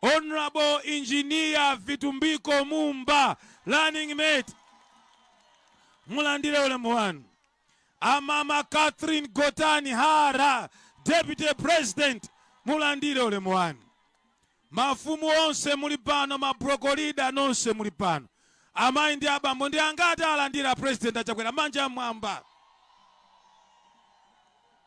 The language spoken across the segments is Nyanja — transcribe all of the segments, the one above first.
Hon Engineer Vitumbiko Mumba Running Mate mulandire ulemu wanu. Amama Catherine Gotani Hara Deputy President mulandire ulemu wanu. Mafumu onse muli pano, mabrokolida nonse muli pano, amayi ndi abambo ndi angati alandira aPresident a Chakwera manja amwamba.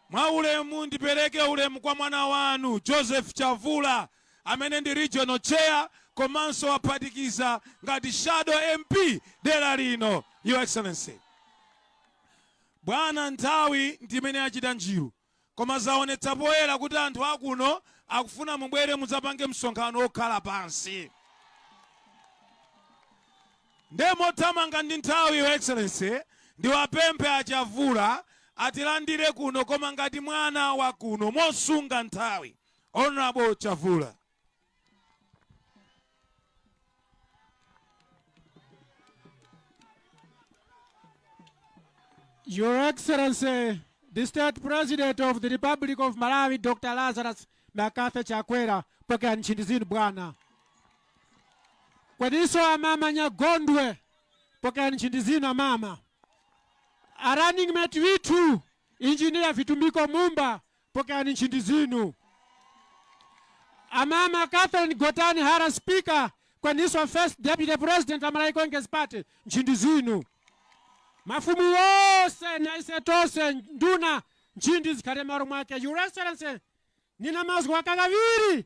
Mwa ulemu ndipereke ulemu kwa mwana wanu Joseph Chavula amene ndi Regional Chair komanso waphatikiza ngati Shadow MP dela lino. Your Excellency. Bwana nthawi ndi imene yachita njiru koma zaonetsa poyera kuti anthu akuno akufuna mubwere mudzapange msonkhano okhala pansi. Nde mothamanga ndi nthawi your excellency ndiwapemphe a Chavula atilandire kuno koma ngati mwana wa kuno mosunga nthawi Hon Chavula. Your Excellency, the State President of the Republic of Malawi, Dr. Lazarus McCarthy Chakwera, pokerani nchindi zinu bwana. Kodiso amama nyagondwe pokelani nchindi zina mama. A running mate withu engineer vitumbiko mumba pokelani nchindi zinu. Amama Catherine Gotani Hara speaker kweniswa first deputy president wa Malawi Congress Party nchindi zinu. Mafumu wose na ise tose nduna nchindi zikhale maro mwake. Your Excellency nina mazwi wakakaviri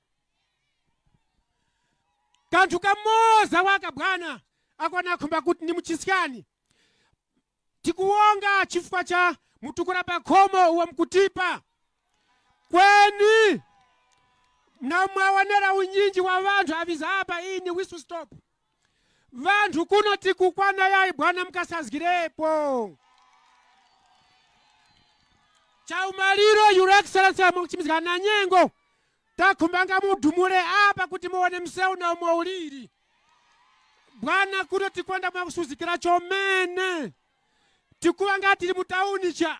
kanthu kamoza waka bwana ako nakhumba kuti ni mchisikani tikuwonga chifukwa cha mtukula pakhomo uwo mkutipa kweni na mwaonera unyinji wa wanthu awiza apa iyi ni whistle stop Wanthu kuno tikukwana yayi bwana mkasazgirepo. Chaumaliro Your Excellency nachimbizgika na nyengo takhumbanga mudumure apa kuti muone msewu na umo uliri. Bwana kuno tikwenda mwakusuzgikira chomene tikuwa ngati tili mutauni cha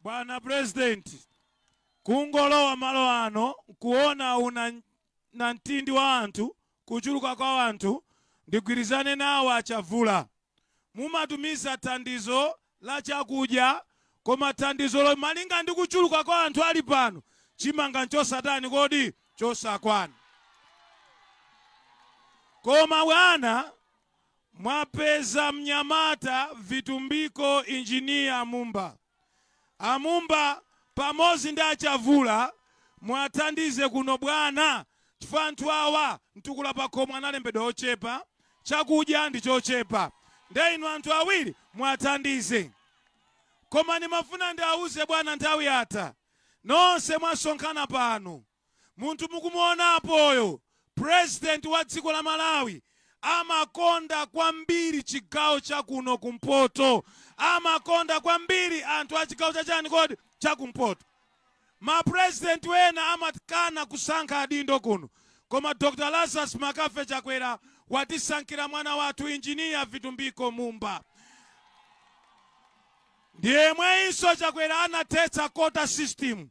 Bwana president, kungolowa malo ano nkuona unamtindi wa anthu, kuchuluka kwa anthu, ndigwirizane nawo a Chavula. Mumatumiza thandizo la chakudya koma thandizolo malinga ndi kuchuluka kwa anthu ali pano, chimanga nchosatani kodi? Chosakwana. Koma bwana, Mwapeza mnyamata Vitumbiko Engineer a Mumba. A Mumba pamodzi ndi a Chavula muwathandize kuno bwana chifukwa anthu awa mtukula pakhomo analembedwa ochepa, chakudya ndi chochepa nde inu anthu awiri muwathandize. Koma ndimafuna ndiwauze bwana nthawi yatha nonse mwasonkhana pano. Munthu mukumuona apoyo president wa dziko la Malawi amakonda kwambiri chigawo cha kuno kumpoto. Amakonda kwambiri anthu a chigawo cha chani kodi? Cha kumpoto. Ma president ena amakana kusankha adindo kuno koma Dr Lazarus McCarthy Chakwera watisankhira mwana wathu Engineer Vitumbiko Mumba. Ndiyemweyinso Chakwera anathetsa quota system.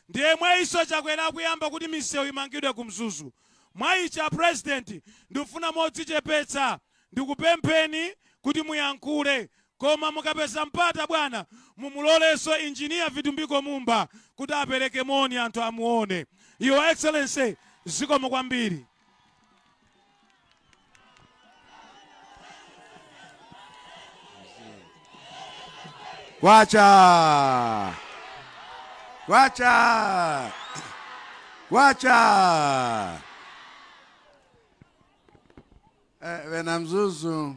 ndiyemweyinso chakwera akuyamba kuti misewu imangidwe ku mzuzu mwa ichi a president ndikufuna modzichepetsa ndikupempheni kuti muyankhule koma mukapeza mpata bwana mumulolenso engineer vitumbiko mumba kuti apereke moni anthu amuone your excellency zikomo kwambiri. Kwacha! Kwacha! Kwacha! Eh, Bena Mzuzu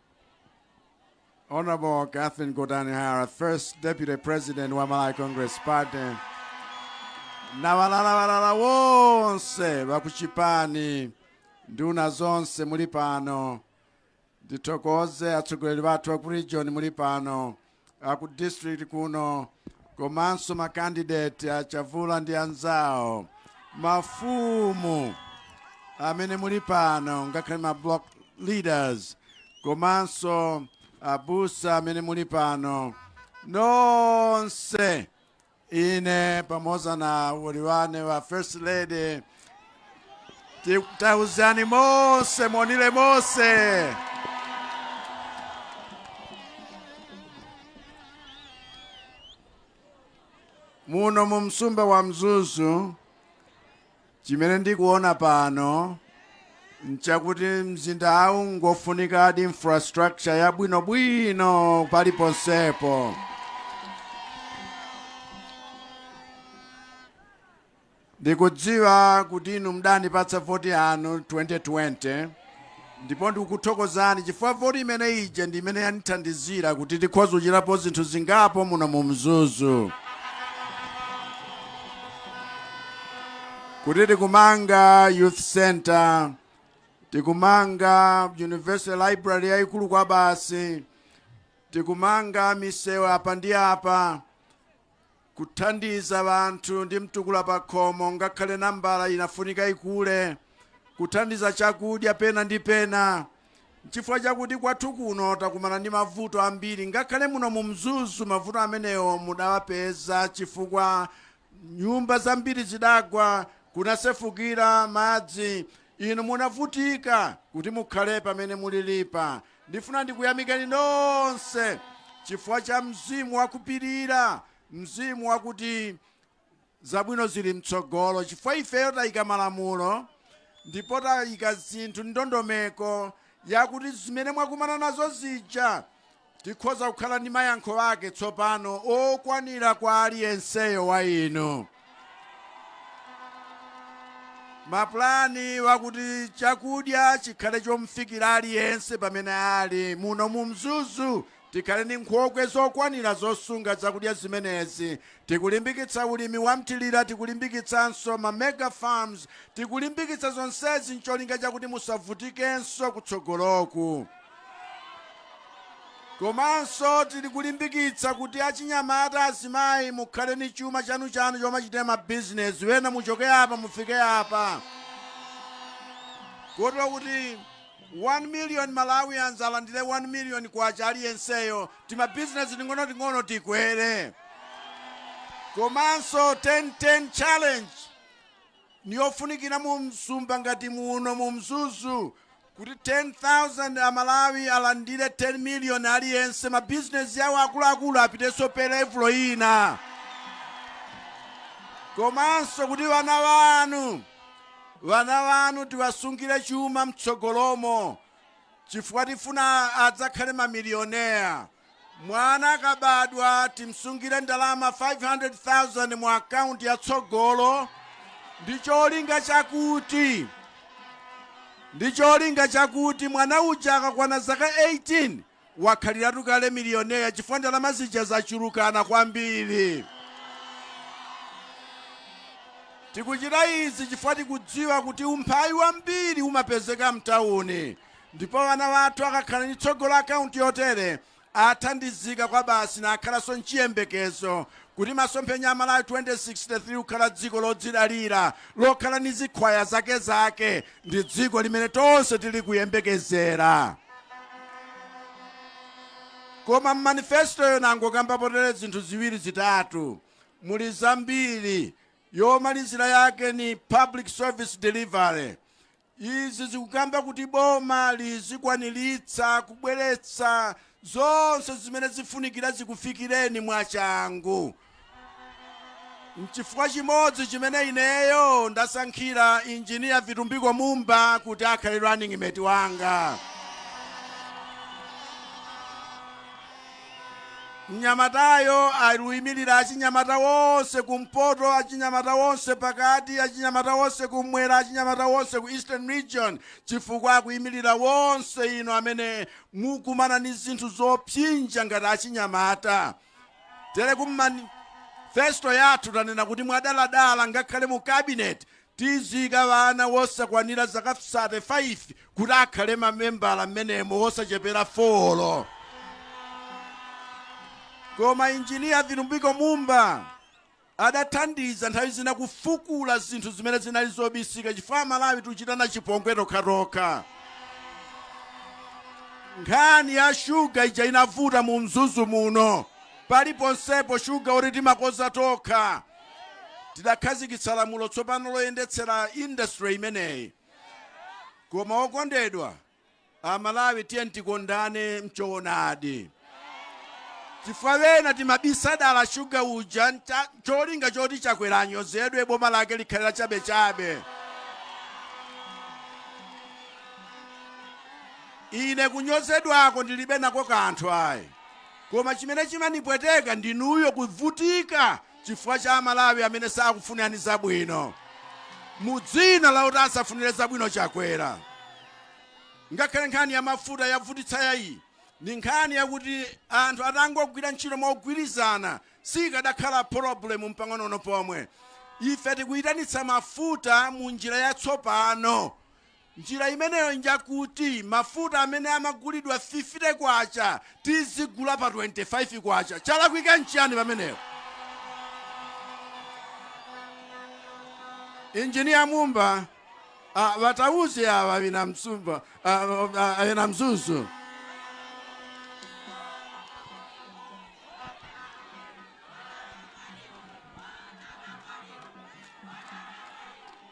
Honorable Catherine Gotani Hara, first deputy president wa Malawi Congress Party, na valalavalala wonse vakuchipani nduna zonse muli pano ndithokoze atsogoleri athu aku region muli pano aku district kuno komanso makandidate a chavula ndi anzawo mafumu amene muli pano ngakhale ma block leaders komanso abusa amene muli pano nonse Ine pamoza na muwoli wane wa First Lady tikutauzani mose monile mose muno mu msumba wa Mzuzu chimene ndikuona pano nchakuti mzindawu ngofunikadi infrastructure yabwinobwino paliponsepo ndikudziwa kuti inu mudandipatsa voti yanu 2020 Ndipo ndikukuthokozani chifukwa voti imene ija ndi imene yandithandizira kuti tikhoza kuchitapo zinthu zingapo muno mu Mzuzu. Kuti tikumanga youth center, tikumanga university library yayikulu kwabasi, tikumanga misewu apa ndi apa, Kuthandiza anthu ndi mtukula pakhomo ngakhale nambala inafunika ikule. Kuthandiza chakudya pena ndi pena. Nchifukwa chakuti kwathu kuno takumana ndi mavuto ambiri ngakhale muno mu Mzuzu mavuto amenewo mudawapeza chifukwa nyumba zambiri zidagwa, kunasefukira madzi, inu munavutika kuti mukhale pamene mulilipa. Ndifuna ndikuyamikeni nonse chifukwa cha mzimu wa kupirira, mzimu wakuti zabwino zili m'tsogolo, chifukwa ifeyo tayika malamulo ndipo tayika zinthu m'ndondomeko yakuti zimene mwakumana nazo zija tikhoza kukhala ndi mayankho ake tsopano okwanira kwa aliyenseyo wa inu. Mapulani wakuti chakudya chikhale chomfikira aliyense pamene ali, muno mu Mzuzu tikhale ndi nkhokwe zokwanira zosunga zakudya zimenezi, tikulimbikitsa ulimi wa mthilira, tikulimbikitsanso ma mega farms, tikulimbikitsa zonsezi ncholinga chakuti musavutikenso kutsogoloku. Komanso tili kulimbikitsa kuti achinyamata, azimayi mukhale ni chuma chanu-chanu chomachitira ma business, wena muchoke apa mufike apa. Kotero kuti 1 million Malawians alandire 1 million kwacha aliyenseyo, tima business ting'ono-ting'ono tikwere. Komanso 10-10 challenge niyofunikira mu msumba ngati muno mu Mzuzu, kuti 10,000 a Malawi alandire 10 million aliyense, ma bizinezi awo akuluakulu apitenso pe levulo ina, komanso kuti ŵana ŵanu ŵana ŵanu tiwasungire chuma mtsogolomo chifukwa tifuna adzakhale mamiliyonea. Mwana akabadwa timsungire ndalama 500,000 mu akaunti ya Tsogolo ndi cholinga chakuti mwana uja akakwana zaka 18 wakhaliratu kale miliyonera chifukwa ndalama zija zachulukana kwambiri. Tikuchita izi chifukwa tikudziwa kuti umphawi wambiri umapezeka mtawuni. Ndipo ana athu akakhala ndi tsogolo akaunti yotere athandizika kwabasi nakhalanso nchiyembekezo kuti masomphenya a Malawi 2063 kukhala dziko lodzidalira lokhala ndi zikhwaya zakezake ndi dziko limene tonse tili kuyembekezera. Koma mmanifestoyo ndangokambapo tere zinthu ziwiri zitatu, muli zambiri, yomalizira yake ni public service delivery, Izi zikukamba kuti boma lizikwaniritsa kubweretsa zonse zimene zifunikira zikufikireni mwachangu. Nchifukwa chimodzi chimene ineyo ndasankhira Engineer Vitumbiko Mumba kuti akhale running mate wanga. Mnyamatayo akuimilira achinyamata onse ku mpoto, achinyamata onse pakati, achinyamata onse kummwera, achinyamata onse ku Eastern Region, chifukwa akuimilira onse inu amene mukukumana ndi zinthu zopsinja ngati achinyamata. Tere ku manifesto yathu tanena kuti mwadaladala ngakhale mu cabinet Tiziika ana wosakwanira zaka 35 kuti akhale mamembala mmenemo wosachepera folo. Koma Engineer Vitumbiko Mumba adathandiza nthawi zina kufukula zinthu zimene zinali zobisika chifukwa Amalawi tikuchitana chipongwe tokhatokha. Nkhani ya shuga ija inavuta mu Mzuzu muno. Paliponsepo shuga oti timakonza tokha. tidakhazikitsa lamulo tsopano loyendetsera industry imeneyi. Koma okondedwa Amalawi tiyeni tikondane mchoonadi. Chifukwa ena timabisa dala shuga uja ncholinga choti Chakwera anyozedwe boma lake likhale la chabechabe. Ine kunyozedwako ndilibe nako kanthu ayi. Koma chimene chimandipweteka ndinuyo kuvutika chifukwa cha amalawi amene sakufunirani zabwino mu dzina loti asafunire zabwino chakwera. Ngakhale nkhani ya mafuta yavutitsayi ndi nkhani yakuti anthu atangogwira ntchito mogwirizana sikadakhala polobulemu mpang'onong'ono pomwe. Ife tikuyitanitsa mafuta mu njira yatsopano. Njira imeneyo njakuti mafuta amene amagulidwa K50 tizigula pa K25. Chalakwika nchiyani pamenepo? Engineer Mumba, ah, baphalireni awa bina Mzuzu, ah, ah, bina Mzuzu.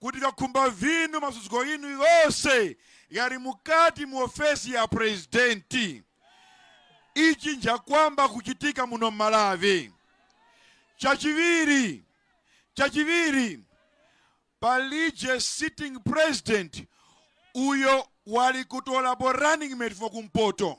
kuti vyakukhumba vinu masuzgo ghinu ghose ghali mukati mu ofesi ya presidenti. Ichi nchakwamba kuchitika muno mMalawi. Chachiviri, chachiviri, palije sitting president uyo wali kutolapo running mate for kumpoto.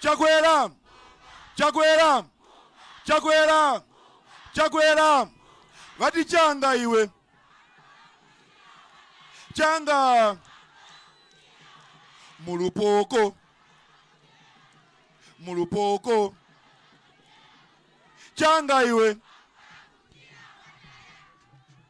chakwera chakwera chakwera chakwera vati changa iwe changa mulupoko mulupoko changa iwe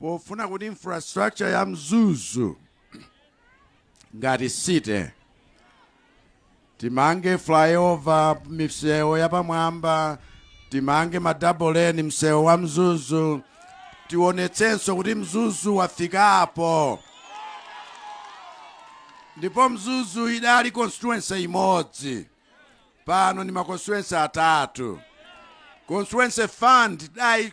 pofuna kuti infrastructure ya mzuzu ngati city timange flyover misewu yapamwamba timange ma dual lane msewu wa mzuzu tionetsenso kuti mzuzu wafikapo ndipo mzuzu idali constituency imodzi pano ndi ma constituency atatu constituency fund dai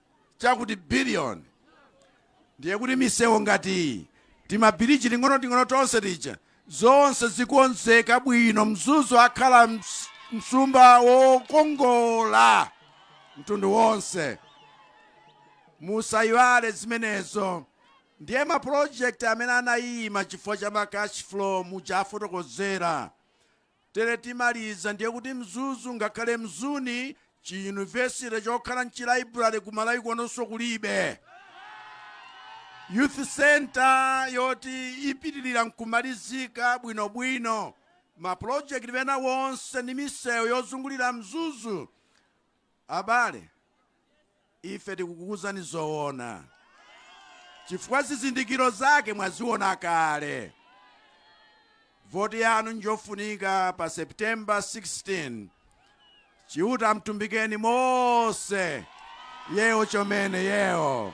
chakuti billion. Ndiye kuti misewu ngati iyi, timabiriji ting'onoting'ono tonse tija, zonse zikonzeka bwino, Mzuzu ukhala ms- msumba wokongola mtundu wonse. Musayiwale zimenezo. Ndiye ma project amene anayima chifukwa cha ma cash flow muja afotokozera Tere timaliza ndiye kuti Mzuzu ngakhale Mzuni chi university chokhala nchi library ku Malawi konkuno kulibe. Youth centre yoti ipitirira nkumalizika bwino bwino. Ma project ena wonse ndi misewu yozungulira Mzuzu Abale, ife tikukuuzani zoona chifukwa zizindikiro zake mwaziona kale. Voti yanu njofunika pa September 16. Chiuta wamutumbikeni mose yewo chomene yewo.